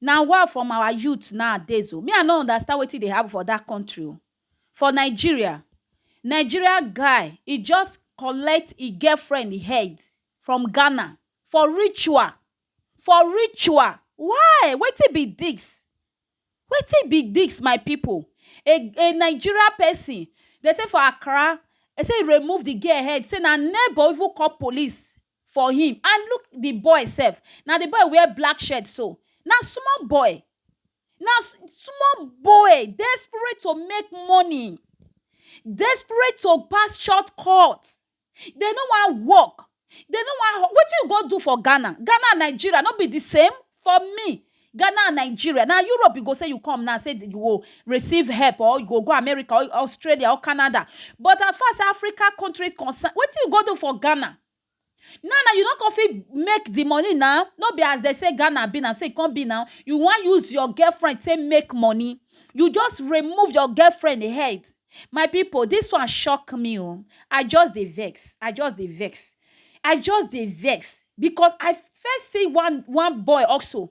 Na wa from our youth nowadays o, me I no understand wetin dey happen for that country o, for Nigeria, Nigeria guy e just collect e girlfriend e head from Ghana for ritual, for ritual why wetin be this, wetin be this my people a a Nigeria person dey say for Accra say e remove the girl head say na neighbor even call police for him and look the boy sef na the boy wear black shirt so na small boy na small boy desperate to make money desperate to pass short cut they no wan work they no wan wetin you go do for Ghana Ghana and Nigeria no be the same for me Ghana and Nigeria, na Europe you go say you come now say you go receive help or you go go America or Australia or Canada but as far as Africa country is concerned wetin you go do for Ghana? Now na you no come fit make the money now no be as dem say Ghana be na so e come be now you wan use your girlfriend take make money you just remove your girlfriend head My people this one shock me o, I just dey vex, I just dey vex, I just dey vex because I first see one one boy also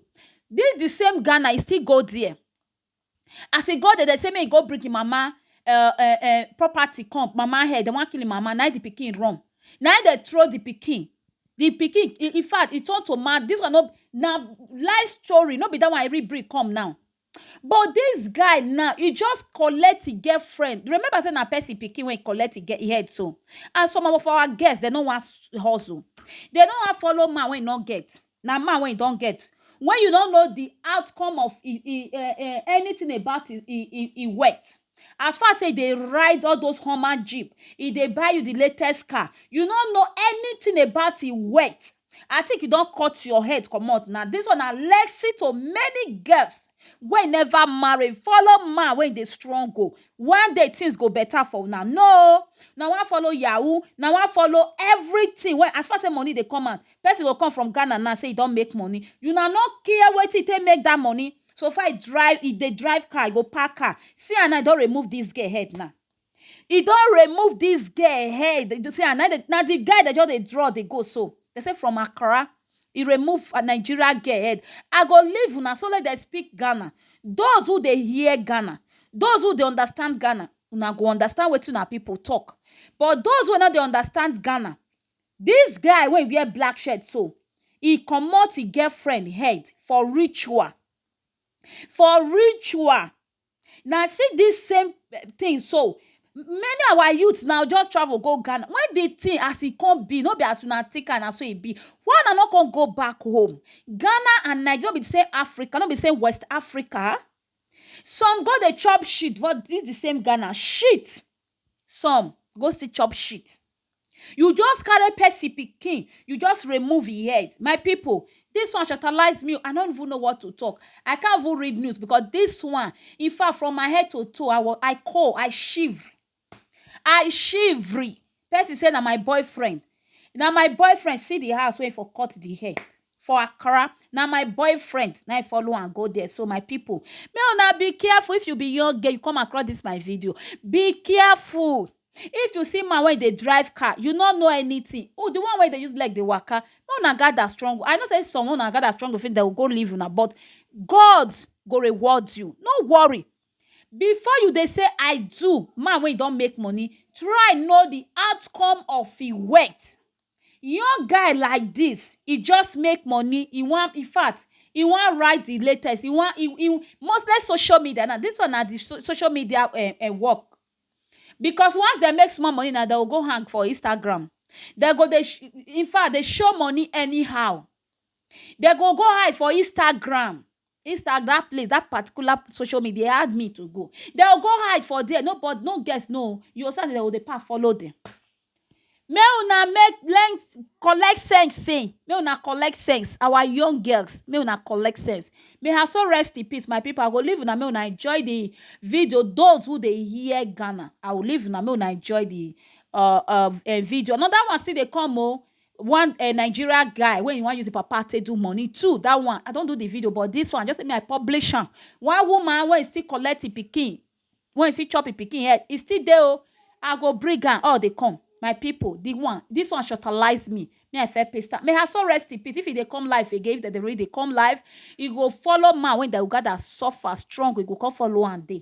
this the same Ghana e still go there as e go there dem say make e go bring him mama um um property come, mama head dem wan kill him mama na him the pikin run na him dem throw the pikin, the pikin infact e turn to man this one no be na life story no be that one I read bring come now But this guy now, he just collect him girlfriend. Remember say na person pikin wey collect him head so. And some of our girls, they no wan hustle. They no wan follow man wey no get. Na man wey don get. When you no know the outcome of e e e anything about e e e wealth. As far say e dey ride all those Hummer Jeep, e dey buy you the latest car, you no know anything about e wealth. I think you don cut your head comot now. This one na lesson to many girls wey never marry. Follow man wey dey struggle. One day things go better for una. No, na wan follow yahoo, na wan follow everything wey as far say money dey come out. Person go come from Ghana now say e don make money. Una no care wetin e take make that money. So far e drive, e dey drive car, e go park car. See am now, e don remove this girl head now. e don remove this girl head you see am na the na the guy dey just dey draw dey go so they say from Accra e remove a Nigeria girl head I go leave una so let them speak Ghana those who dey hear Ghana those who dey understand Ghana una go understand wetin una people talk but those wey no dey understand Ghana this guy wey wear black shirt so e comot e girlfriend head for ritual for ritual na see this same thing so many our youth now just travel go Ghana when the thing as e come be no be as una think am na so e be why una no come go back home Ghana and Nigeria no be the same Africa no be the same West Africa some go dey chop shit but this the same Ghana shit some go still chop shit you just carry person pikin you just remove e head my people this one shatalyze me i don't even know what to talk i can't even read news because this one in fact from my head to toe i was i call i shiver i shivery person say na my boyfriend na my boyfriend see the house wey for cut the head for accra na my boyfriend na i follow am go there so my people make una be careful if you be young girl you come across this my video be careful if you see man wey dey drive car you no know anything oh the one wey dey use leg dey waka make una gather strong i know say some una gather strong finish dem go go leave una but god go reward you no worry before you dey say i do man wey don make money try know the outcome of e words Young guy like this, e just make money, e wan in fact e wan write the latest, e wan e e mostly social media now, this one na the social media um work because once dem make small money now, dem go go hang for Instagram, dem go dey in fact dey show money anyhow, dem go go hide for Instagram. Instag that place that particular social media dey hard me to go dem go go hide for there no but no girls no oo you go see as dem go dey pack follow dem make una make learn collect sense sey make una collect sense our young girls make una collect sense may her soul rest in peace my people I go leave una make una enjoy the video those who dey hear Ghana I will leave una make una enjoy the um video another one still dey come oo. one eh, nigeria guy wey you wan use the papa take do money two that one i don do the video but this one just say me i publish am one woman wey still collect him pikin wey still chop him pikin head e still dey o i go bring am all dey come my people the one this one shortalize me me i fair paste am may her soul rest in peace if e dey come life again if dem dey really dey come life e go follow man wey dem go gather suffer strong e go come follow am dey